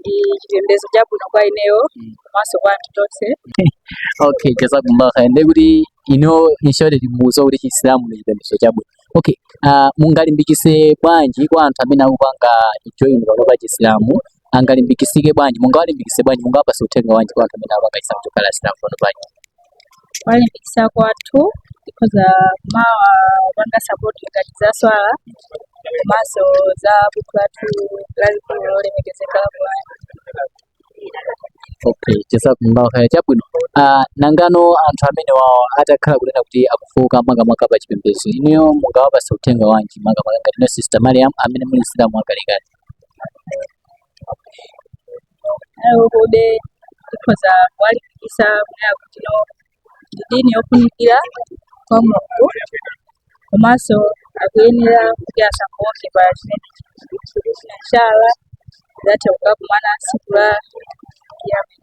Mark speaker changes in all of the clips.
Speaker 1: ndi chipembedzo chabwino kwa ineyo Mm. komanso kwa anthu
Speaker 2: tonse okay jazakumullah khair ndiye kuti inu mu shuwa ndimuuza kuti chisilamu ndi chipembedzo chabwino okay uh, mungalimbikitse bwanji kwa anthu amene akupanga join panopa chisilamu angalimbikitsike bwanji mungawalimbikitse bwanji mungawapatse uthenga wanji kwa anthu amene akupanga chisilamu kukhala asilamu panopa
Speaker 1: kuwalimbikitsa kwathu tikhoza kumawapanga sapoti ngati za swala komanso za buku lathu lalikulu lolemekezeka la Qur'an.
Speaker 2: okay jazakumullahu khair chabwino uh, nangano anthu amene wawo atakhala kunena kuti akufooka makamaka pa chipembedzo inuyo mungawapatse uthenga wanji makamaka ngati inu sister mariam amene muli msilamu wakalekale
Speaker 1: iwowobe tikhoza kuwalimbikitsa kunena kuti ino ndi dini yofunikira kwa mulungu komanso akuyenera kuti asafooke pa chimene insha allah atha kukakumana tsiku la
Speaker 2: kiyama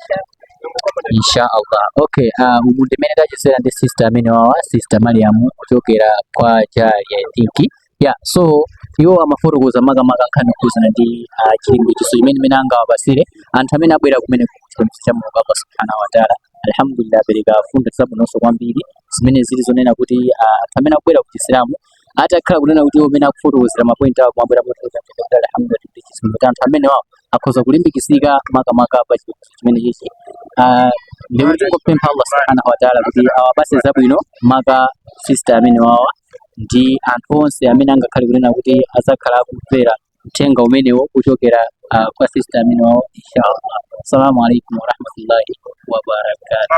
Speaker 2: insha allah okay uh, umu ndi mmene tachezera ndi sister amene wawa sister mariamu kuchokera kwa jali i think ya so iwo amafotokoza makamaka nkhani yokhuzana ndi ah, chilimbikitso mmene angawapatsire anthu amene abwera kumene kuchipembedzo cha mulungu allah subhanahu wa taala alhamdulillah apereka mfundo zabwinonso kwambiri zimene zili zonena kuti ah, anthu amene akubwera ku chisilamu atakhala kunena kuti iwo amene akufotokozera mapointi awo amawalera motsogoza kuti alhamdulillah ndi chisungo cha anthu amene wawo akhoza kulimbikitsika makamaka pa chipembedzo chimene chichi Ah, ndikuti tingopempha allah subhanahu wa taala kuti awapatse zabwino maka sister amene wawa ndi anthu onse amene angakhale kunena kuti adzakhala akumvera uthenga umenewo kuchokera ah, kwa sista amene wawo inshallah assalamu alaikum warahmatullahi wabarakatuh